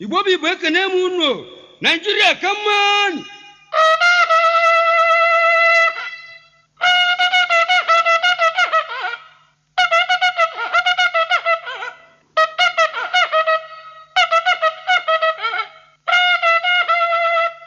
igbo bụ igbo ekene m unu o. naijiria ka mma nụ.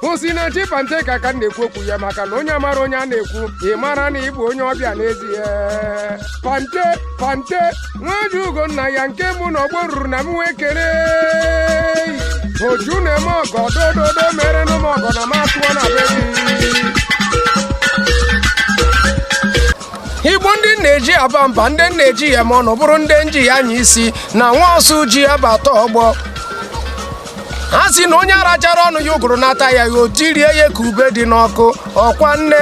Osinachi Panteka ka m na-ekwu okwu ya maka na onye amara onye a na-ekwu ị mara na ị bụ onye ọbịa n'ezie Pante Pante nwa ji ugo nna ya nke mbụ n'ọgbọ o ruru na m wee kere oju na-eme ọgọ dododo mere nụ m ọgọ na m atụọ na be gị igbo ndị m na-eji aba mba ndị m na-eji ama ọnụ bụrụ ndị m ji anya isi na nwa ọsụ ji ya bata ọgbọ ha sị na onye arachara ọnụ ya ụgụrụ anata ya ya o tirie ya ka ube dị n'ọkụ ọkwa nne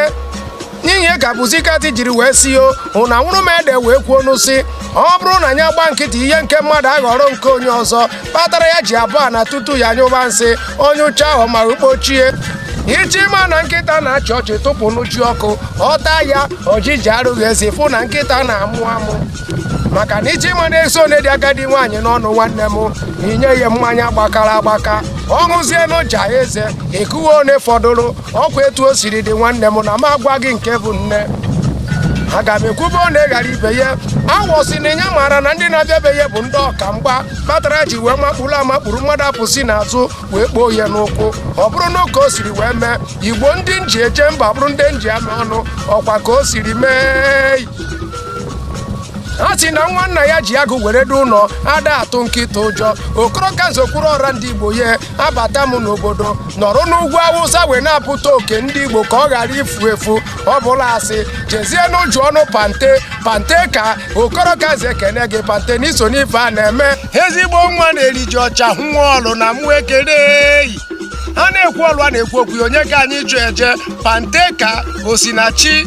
ihe ka pussycat jiri wee si yo hụ na nwụrụ m ede wee kwuo nụ sị ọ bụrụ na ya gba nkịtị ihe nke mmadụ aghọrọ nke onye ọzọ kpatara ya ji abọ ana tutu ya nyụba nsị ọ nyụchaa ọ ma kpochie ị chọ ịma na nkịta na-achị ọchị tụpụ nụ ji ọkụ ọ ta ya ojiji arụghị eze ị fụ na nkịta na-amụ amụ maka na ị chọ ịma na eze one dị agadi nwaanyị n'ọnụ nwanne m i nye ya mmanya gbakara agbaka ọ ṅụzie nụ ja eze ekwuwe one fọdụrụ ọkwa etu o siri dị nwanne m na m agwa gị nke bụ nne aga m ekwube one ghara ibe ya awọ sị na ya maara na ndị na-abịa be ya bụ ndị ọka mgba kpatara ya ji wee makpuru amakpuru mmadụ apụ si n'azụ wee kpoo ya n'ụkwụ ọ bụrụ nụ ka o siri wee mee igbo ndị m ji eje mba bụrụ ndị m ji ama ọnụ ọkwa ka o siri mee a sị na nwa nna ya ji agụ were du ụlọ ada atụ nkịta ụjọ okoro ka nze okwuru ọra ndị igbo ya abata m n'obodo nọrọ n'ugwu awụsa wee na-apụta oke ndị igbo ka ọ ghara ifu efu ọ bụlụ asị jezie nụ jụọ nụ pante panteka okoro ka nze ekene gị pante na i so n'ife a na-eme ezigbo nwa na-eri ji ọcha nwa ọlụ na mụ ekele eyi a na-ekwu ọlụ a na-ekwu okwu ya, onye ka anyị ji eje panteka osinachi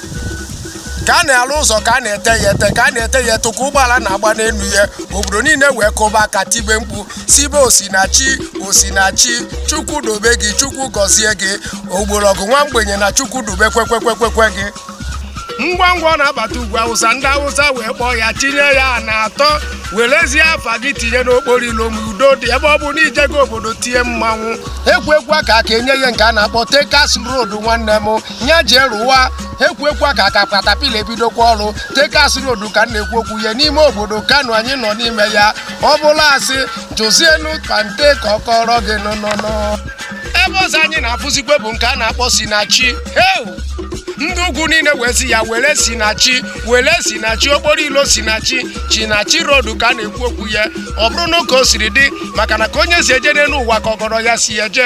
ka a na-alụ ụzọ ka a na-ete ya ete ka a na-ete ya ete ka ụgbọala na-agba n'elu ya obodo niile wee kụba aka tibe mkpu sibe osinachi osinachi chukwu dobe gị chukwu gọzie gị ogbolọgụ nwa mgbenye na chukwu dobe kwekwekwekwe gị ngwa ngwa ọ na-abata ugwu awụsa ndị awụsa wee kpọọ ya tinye ya na atọ werezie afa gị tinye n'okporo ilo ma udo dị ebe ọ bụ na i jego obodo tie mmanwụ ekwu ekwu aka aka enye ya nke a na-akpọ tekas road nwanne m nya jee rụwa ekwuekwa ka ka katapila ebidokwa ọrụ tekas rodu ka m na-ekwu okwu ya n'ime obodo kano anyị nọ n'ime ya ọ bụrụ asị jụzienu pante ka ọ kọrọ gị nụnụnụ ebe ọzọ anyị na-afụzikwe bụ nke a na-akpọ sinachi heu ndị ugwu niile wee sị ya were sinachi were sinachi okporo ilo sinachi sinachi rodu ka a na-ekwu okwu ya ọ bụrụnụ ka o siri dị maka na ka onye si eje n'elu ụwa ka ọgọrọ ya si eje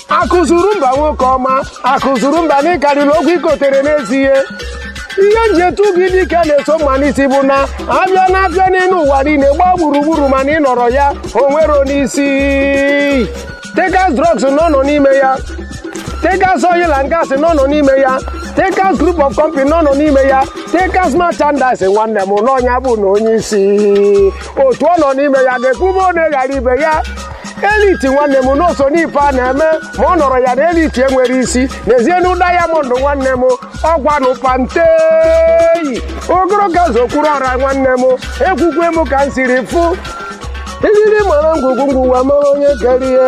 akụzuru mba nwoke ọma akụzuru mba na ịkarịrị okwu ikotere n'ezie ihe m ji etu gị dike na-eso mma n'isi bụ na a bịa n'afịa n'elu ụwa niile gbaa gburugburu mana ị nọrọ ya o nwerọnụ isi tekas drugs na ọ nọ n'ime ya tekas oil and gas na ọ nọ n'ime ya tekas group of company na ọ nọ n'ime ya tekas merchandise nwanne m na ọ nya bụnụ onye isi otu ọ nọ n'ime ya ga-ekwu ebe one ghara ibe ya eliti nwanne m na o so n'ife a na-eme ma ọ nọrọ ya na eliti enwerọ isi n'ezienu dayamọnd nwanne m ọgwanụ pante ogologo zokwuru ọra nwanne m ekwukwe m ka m siri fụ elili mara ngwugwu ngwugwu amara onye kere ye